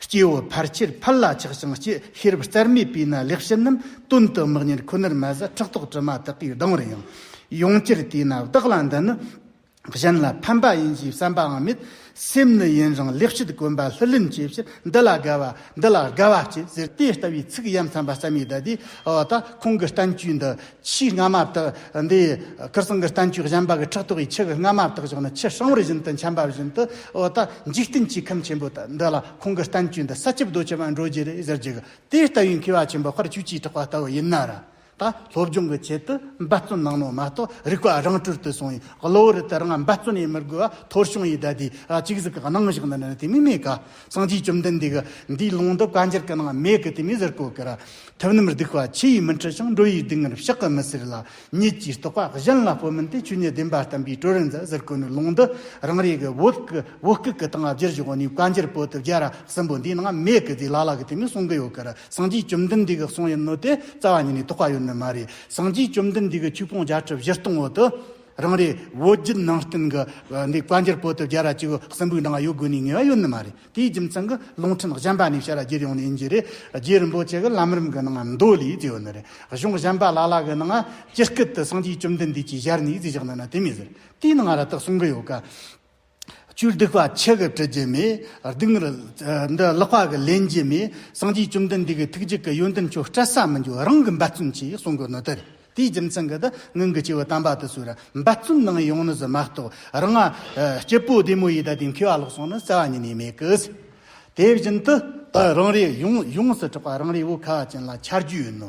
Speaker 1: སྐྱེ་བོ་ཕལ་ཆེར་ཕར་ལ་ཆགས་ཤིང་སྐྱེ་ཤི་རབས་གསར་མའི་པའི་ན་ལེགས་ཤིང་ནམ་དོན་དུ་དམག་གཉེར་ཁོ་ནར་མ་ཟད་ཁྲག་དོག་དྲི་མ་དག་གིས་ལྡང་བར་ཡང་ཡོང་གྱུར་དེས་ན་བདག་ལ་འདི་ནི་གཞན་ལ་ཕན་པ་ཡིན་ཞེས་བསམ་པའང་མེད། སེམས་ནི་ཡིན་རུང་ལེགས་བཤད་དགོན་པ་ལྷུར་ལེན་བྱེད་ཕྱིར་འདི་ལ་དགའ་བ་འདི་ལ་དགའ་བ་སྐྱེས་ཟེར་དེ་ལྟ་བུའི་ཚིག་ཡ་མཚན་པ་སྲ་མའི་བརྡ་དེས་འོ་ད་ཁོང་གི་གཏམ་རྒྱུད་འདི་ཕྱིའི་རྔ་མ་དག་འདིས་ཁིར་སྲང་གི་གཏན་ཆུས་བཞེངས་པ་གི་ཕྲག་དོག་གིས་ཕྱི་གི་རྔ་མ་དག་བཞག་ནས་ཕྱི་ཧྲང་བུར་བཞིན་དུ་མཆན་པ་བཞིན་དུ་འོ་ད་འཇིག་རྟེན་གྱི་ཁམས་ཆེན་པོ་དག་འདི་ལ་ཁོང་གི་གཏན་ཆུས་འདི་ས་ཆུབ་རྡོ་ཆེན་པ་འགྲོ་རྗེས་རེད་ཟེར་གྱི་གི་དེ་ལྟ་བུའི་མཁས་པ་ཆེན་པོ་ཁར་ཆུས་ཀྱིས་དྲག་པ་ལྟ་བུ་ཡིན་ན་ར་ད་སློབ་སྦྱོང་གི་ཆེད་དུ་འབད་བརྩོན་གནང་ནོ་མ་གཏོགས་རིག་པ་རང་གྲོལ་དུ་སོང་ཡིན་གློ་བུར་དུ་རང་འབད་བརྩོན་ཡིན་མི་དགོས་བ་ཐོར་ཆུང་ཡིས་ད་དེའི་གཅིག་གཟིགས་གནང་བཞག་ན་ནི་དེ་མི་སྨྲས་ག། སངས་རྒྱས་བཅོམ་ལྡན་འདས་ཀྱིས་འདིའི་ལུང་དུ་བཀའ་འགྱུར་གྱི་ནང་མེད་གི་དེ་མི་ཟེར་གོ་གི་ར། ཐུབ་རྣམས་སྡིག་པ་ཆེ་ཡིས་མི་འཁྲུལ་ཞིང་འགྲོ་ཡིས་སྡིག་ངར་བཤགས་ཀྱི་མི་ཟེར་ལ། ཉིད་ཀྱིས་རྟོགས་པ་གཞན་ལ་སྤོ་མིན་ཏེ་ཆོས་ཉིད་བདེན་པ་བསྟན་པའི་སྤྲོས་རིན་ཛ་ཟེར་གོ་ནི་ལུང་འདི་རང་རེ་གི་བོད་སྐུ་བོད་སྐུ་གི་སྟེང་བསྒྱུར་བཞུགས་ནས་བཀའ་འགྱུར་པོ་ཏི་བརྒྱ་ར་གསུམ་པོ་འདིའི་ནང་མེད་གི་དེ་ལ་ལ་གི་དེ་མི་གསུང་གི་ཡོད་གི་ར་སངས་རྒྱས་བཅོམ་ལྡན་འདས་ཀྱི་གསུང་ཡིན་ནོ་དེ་རྩ་བ་ཉིད་ནས་རྟོགས་པ་ཡོད་ནི་མ་རེད་སངས་རྒྱས་བཅོམ་ལྡན་འདས་ཀྱི་ཆོས་སྤོང་བརྒྱ་ཁྲི་བཞི་སྟོང་འོད་དུ། རང་རེའི་བོད་བརྒྱུད་ནང་བསྟན་གྱི་འདི་བཀའ་འགྱུར་བོད་དུ་རྒྱལ་ར་སྤྱི་བོའི་གསང་ཕུག་ནང་ཡོད་དགོས་ནི་ངེས་པ་ཡོད་ནི་མ་རེད་དེའི་རྒྱུ་མཚན་གྱི་ལུང་ཕྲན་གཞན་པ་ནས་ཤར་རྒྱུད་ཡོངས་ནས་ཡིན་རྒྱུ་རེད་རྒྱུད་རིན་པོ་ཆེ་གྱི་ལམ་རིམ་གྱི་ནང་མདོ་ལས་ཅི་ཡོད་ནི་རེད་གཞུང་གཞན་པ་ལ་ལ་གྱི་ནང་སྤྱི་སྐད་དུ་སངས་རྒྱས་བཅོམ་ལྡན་འདས་ཀྱིས་ཞལ་ནས་ཅི་བཞག་ནི་ན་དེ་མི་ཟེར་དེའི་ནང་ར་ཏག་གསུང་གི་ཡོད་ཀ། བཅུད་སྡིག་པ་ཆེ་གེ་དྲི་རྒྱལ་མའི་སྡིག་ངར། འདི་ཀློག་པ་གི་ལན་རྒྱལ་མའི་སངས་རྒྱས་བཅོམ་ལྡན་འདས་ཀྱི་ཐུགས་རྗེ་གི་ཡོན་ཏན་ཁྱོད་སྤྲད་ས་མི་འགྱུར་རང་གི་འབད་བརྩོན་གྱིས་གསུང་གི་ནོ་དེར་དེའི་རྒྱུ་མཚན་གི་དེ་སྔོན་གི་སྐྱེ་བོ་དམ་པ་དེ་ཚོས་རང་འབད་བརྩོན་གནང་ཡོང་ནི་ཟེར་མ་གཏོགས་རང་ང་སྐྱེས་པོ་བདེ་མོ་ཡི་དྭགས་དེ་མཁས་པ་ལོག་སོང་ནི་བསལ་བ་ཉིད་ནས་མེད་གི། དེ་བཞིན་དུ་རང་རེ་ཡོངས་སུ་གྲགས་པ་རང་རེའི་བོད་ཁ་བ་ཅན་ལ་འཆར་རྒྱུ་ཡིན་ནོ།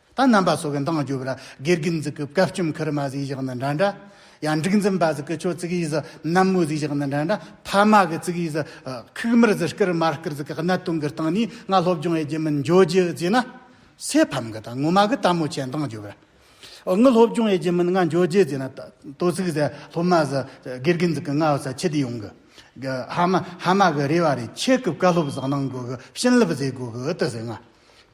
Speaker 1: ད་རྣམ་པ་སོགས་ཀྱི་མདངས་བསྒྱུར་བ་ལ་དགེ་རྒན་གཟིགས་ཀྱི་བཀའ་བཅོམ་ཁར་མ་གཟིགས་བཞག་ན་འདྲ་འདྲ། ཡང་འབྲུག་འཛིན་པ་གཟིགས་ཀྱི་ཆོས་གཙིགས་ཡིས་གནམ་མོ་གཟིགས་བཞག་ན་འདྲ་འདྲ། ཕ་མ་གི་གཙིགས་ཡིས་ཁུག་མར་གཟིགས་སྐར་མ་སྐར་གཟིགས་ཀྱི་གནད་དོན་གྱི་སྟེང་ནས་ང་སློབ་སྦྱོང་ཡི་རྒྱུ་མིན་འཇོག་རྒྱུ་ཅེ་ན། སའི་ཕམ་གྱི་དང་ངོ་མ་གི་དལ་མོ་ཆེའི་མདངས་བསྒྱུར་བ། ངའི་སློབ་སྦྱོང་ཡི་རྒྱུ་མིན་ང་འཇོག་རྒྱུ་ཅེ་ན། དོ་ཚིགས་ཟེར་སློབ་མ་ཟེར་དགེ་རྒན་གཟིགས་ཀྱི་ང་བསད་ཁྱི་དེ་ཡོང་གི། ཧ་མ་ཧ་མ་གི་རེ་བ་རེད་ཁྱེད་ཀྱི་བཀའ་སློབ་ཟགས་གནང་དགོས་གི་བྱིན་རླབས་བཟོས་དགོས་གི་ཨི་ཏི་ཟེར་ང།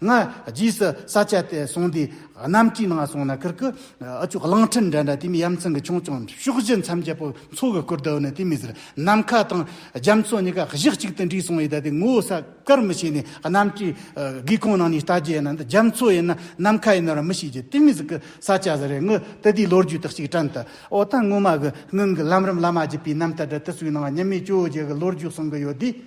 Speaker 1: ང་རྗེས་སུ་ས་སྐྱ་དེ་སོང་དུས་གནམ་གྲུའི་ནང་སོང་ན་ཁུར་ཁུར་ཨ་ཅོ་གླང་ཁྲི་འདྲ་འདྲ་དེ་མིན་ཡ་མཚན་གྱི་ཆུང་ཆུང་ཕྱོགས་བཞི་མཚམས་བརྒྱད་པོ་མཚོ་གི་ཁུར་དེའུ་ནི་དེ་མིན་ཟེར་ནམ་མཁའ་དང་རྒྱ་མཚོ་གཉིས་ཀ་གཞི་གཅིག་ཏུ་འདྲེས་སོང་ཡོད་ད་དེ་ངོ་བོ་ས་དཀར་མི་ཤེས་ནས་གནམ་གྲུའི་སྒེའུ་ཁུང་ནང་ནས་ལྟ་རྒྱུ་ཡིན་ན་འདི་རྒྱ་མཚོ་ཡིན་ན་ནམ་མཁའ་ཡིན་ནོ་ར་མི་ཤེས་རྒྱུ་དེ་མིན་ཟིག་གི་ས་སྐྱ་ཟེར་རེད་ངུ་དེ་དུས་ལོ་རྒྱུས་དག་ཅིག་དྲན་དུ་ཨོ་ད་ངོ་མ་གི་སྔོན་གྱི་ལམ་རིམ་བླ་མ་བརྒྱུད་པའི་རྣམ་ཐར་འདི་དུས་ཚོད་ནང་ཉི་མའི་བཅོ་བརྒྱད་གི་ལོ་རྒྱུས་གསུང་གི་ཡོད་དུས།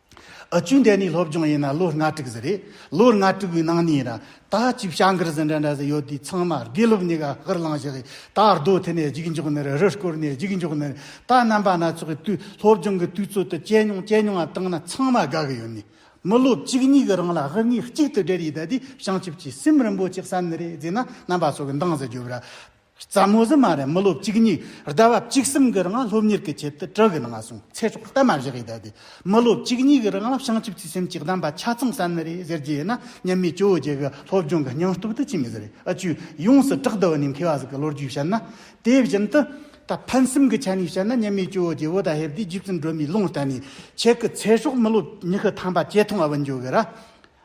Speaker 1: ཨ་བཅུ་འདས་ནས་སློབ་སྦྱོང་ཡིན་ན་ལོ་ལྔ་དྲུག་ཟིག་རེད། ལོ་ལྔ་དྲུག་པོའི་ནང་ནས་ཡིན་ན། ད་ཅིག་བྱ་འགུལ་ཟིན་འདྲ་འདྲ་ཟིག་ཡོད་དུས་ཚང་མ་དགེ་སློབ་གཉིས་ཀ་ཧིར་བླངས་བཞག་གིས་ད་རྡོ་མཐིལ་ནས་རྒྱུགས་མགྱོགས་ནས་རི་སྐོར་ནས་རྒྱུགས་མགྱོགས་ནས་ད་རྣམ་པ་སྣ་ཚོགས་ཀྱི་དུས་སློབ་སྦྱོང་གི་དུས་ཚོད་དུ་སྤྱད་མྱོང་སྤྱད་མྱོང་ང་བཏང་ན་ཚང་མ་དགའ་གི་ཡོད་ནི། མི་སློབ་གཅིག་གཉིས་ཀྱི་རང་ལ་ཧིར་ངེས་གཅིག་ཏུ་སྦྲེལ་ཡོད་ད་དུས་བྱང་ཆུབ་ཀྱི་སེམས་རིན་པོ་ཆེ་བསམ་ནི་རེད་ཟེར་ན་རྣམ་པ་སོགས་ཀྱི་འདང་ཟེར་རྒྱུ་བར་རྩ་མོ་བཟི་མ་རེད་མི་ལོ་གཅིག་གཉིས་རྡ་བབ་གཅིག་གསུམ་གི་རིང་ལ་སློབ་གཉེར་གི་ཆེད་དུ་དྲི་གི་ནང་སོང་ཚེ་སྲོག་གཏའ་མ་བཞག་ཡས་བསྡད་དེ་མི་ལོ་གཅིག་གཉིས་གི་རིང་ལ་བྱང་ཆུབ་ཀྱི་སེམས་ཀྱི་གདམས་པ་ཆ་ཚང་བསམ་ནི་རེད་ཟེར་གྱི་ཡིན་ན་ཉན་མི་ཅོ་བརྒྱད་གི་སློབ་སྦྱོང་གི་སྙིང་སྟོབས་དེ་ཅི་མི་ཟེར་རེད་ཨ་ཅུ་ཡོངས་སུ་གྲགས་བསྡུ་བ་ནི་མཁས་བ་ཟིག་གི་ལོ་རྒྱུས་བཤད་ན་དེ་བཞིན་དུ་ད་ཕན་སེམས་ཀྱི་ཆ་ནས་བཤད་ན་ཉན་མི་ཅོ་བརྒྱད་བོ་ད་ཧེབ་དེ་རྗེ་བཙུན་སྒྲོལ་མའི་ལུང་བསྟན་ནས་ཁྱེད་ཀྱི་ཚེ་སྲོག་མི་ལོ་ཉི་ཤུ་ཐམ་པ་ཇེ་ཐུང་བ་བུ་འགྱོ་གི་རེད།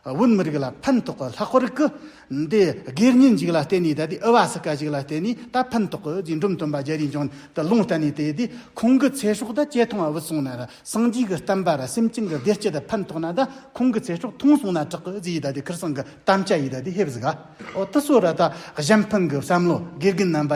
Speaker 1: བོད་མི་རིགས་ལ་ཕན་ཐོགས་པའི་ལྷག་པར་སྐུ་འདས་སྒེར་གཉེན་ཞིག་ལ་བརྟེན་ནས་ད་ལྟའི་དབྱི་བ་སི་ཀ་ཞིག་ལ་བརྟེན་ནས་ད་ཕན་ཐོགས་ཀྱི་རྗེས་འབྲུམ་སྟོན་པ་རྒྱལ་རིགས་འབྱུང་དུ་ལོངས་སྤྲད་ནས་དེ་དུས་ཁོང་གི་ཚེ་སྲོག་དང་བཅས་ཐོང་བ་བུད་སོང་ན་ད་སངས་རྒྱས་ཀྱི་བསྟན་པ་ལ་སེམས་ཅན་གྱི་བདེ་སྐྱིད་ཕན་ཐོགས་ན་ད་ཁོང་གི་ཚེ་སྲོག་ཐོང་སོང་ན་དྲག་གི་ཡིད་ད་ལྟའི་ཁིར་སང་གི་དམ་བཅའ་ཡིད་ད་ལྟའི་ཧེབ་ཟི་ག་འོ་ད་སོ་ར་ད་གཞན་ཕན་གྱི་བསམ་བློ་དགེ་རྒན་རྣམ་པ།